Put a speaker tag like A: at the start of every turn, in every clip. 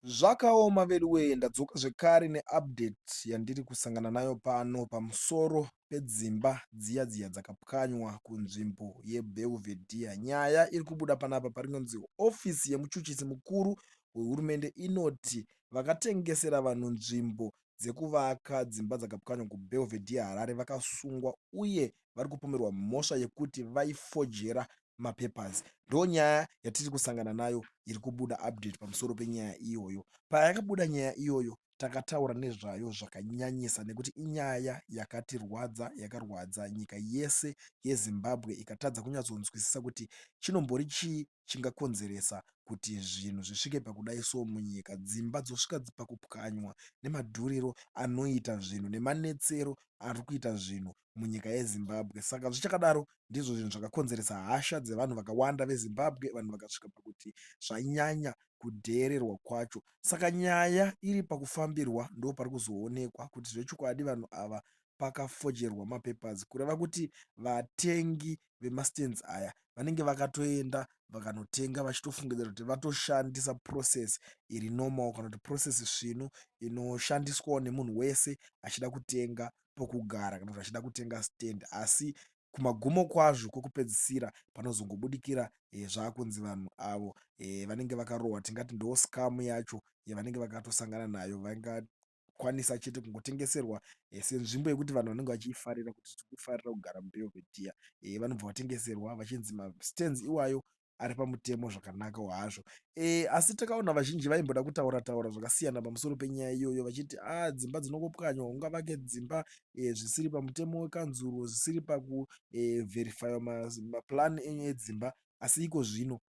A: Zvakaoma veduwee ndadzoka zvekare ne update yandiri kusangana nayo pano pamusoro pedzimba dziya dziya dzakapwanywa kunzvimbo ye Belvedere. Nyaya iri kubuda panapa parinonzi office yemuchuchisi mukuru wehurumende inoti vakatengesera vanhu nzvimbo dzekuvaka dzimba dzakapwanywa ku Belvedere Harare vakasungwa uye vari kupomerwa mhosva yekuti vaifojera mapapers ndonyaya yatiri kusangana nayo iri kubuda update pamusoro penyaya iyoyo payakabuda nyaya iyoyo takataura nezvayo zvakanyanyisa nekuti inyaya yakatirwadza yakarwadza nyika yese yezimbabwe ikatadza kunyatsonzwisisa kuti chinombori chii chingakonzeresa kuti zvinhu zvisvike pakudai so munyika dzimba dzosvika pakupwanywa nemadhuriro anoita zvinhu nemanetsero ari kuita zvinhu munyika yeZimbabwe saka zvichakadaro ndizvo zvinhu zvakakonzeresa hasha dzevanhu vakawanda veZimbabwe vanhu vakasvika pakuti zvanyanya kudheererwa kwacho saka nyaya iri pakufambirwa ndo pari kuzoonekwa kuti zvechokwadi vanhu ava pakafojerwa mapapers kureva kuti vatengi vemastands aya vanenge vakatoenda vakanotenga vachitofungidzira kuti vatoshandisa process iri normal kana kuti process svinu inoshandiswawo nemunhu wese achida kutenga pokugara kana kuti vachida kutenga stand asi kumagumo kwazvo kwekupedzisira panozongobudikira eh, zvaakunzi vanhu avo eh, vanenge vakarohwa tingati ndo scam yacho yavanenge vakatosangana nayo vangakwanisa chete kungotengeserwa eh, senzvimbo yekuti vanhu vanenge vachiifarira kuti tikufarira kugara mubelvedea vanobva vatengeserwa vachinzi mastands iwayo ari pamutemo zvakanakawo hazvo e, asi takaona vazhinji vaimboda kutaura taura zvakasiyana pamusoro penyaya iyoyo vachiti a ah, dzimba dzinongopwanywa ungavake dzimba e, zvisiri pamutemo wekanzuro zvisiri pakuvherifaiwa eh, e, maplan enyu edzimba asi iko zvino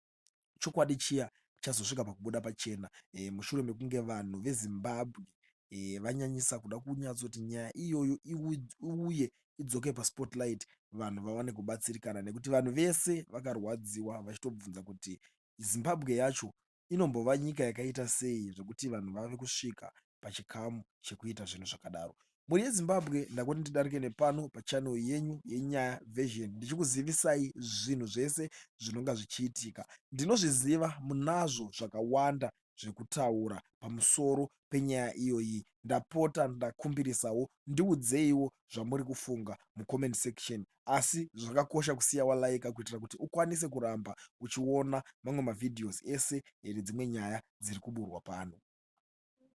A: chokwadi chiya chazosvika pakubuda pachena e, mushure mekunge vanhu vezimbabwe vanyanyisa kuda kunyatsoti nyaya iyoyo iuye idzoke paspotlight vanhu vawane kubatsirikana nekuti vanhu vese vakarwadziwa vachitobvunza kuti zimbabwe yacho inombova nyika yakaita sei zvekuti vanhu vave kusvika pachikamu chekuita zvinhu zvakadaro mhuri yezimbabwe ndakuti ndidarike nepano pachanel yenyu yenyaya version ndichikuzivisai zvinhu zvese zvinonga zvichiitika ndinozviziva munazvo zvakawanda zvekutaura pamusoro penyaya iyoyi ndapota ndakumbirisawo ndiudzeiwo zvamuri kufunga mucomment section asi zvakakosha kusiya walaika kuitira kuti ukwanise kuramba uchiona mamwe mavideos ese here dzimwe nyaya dziri kuburwa pano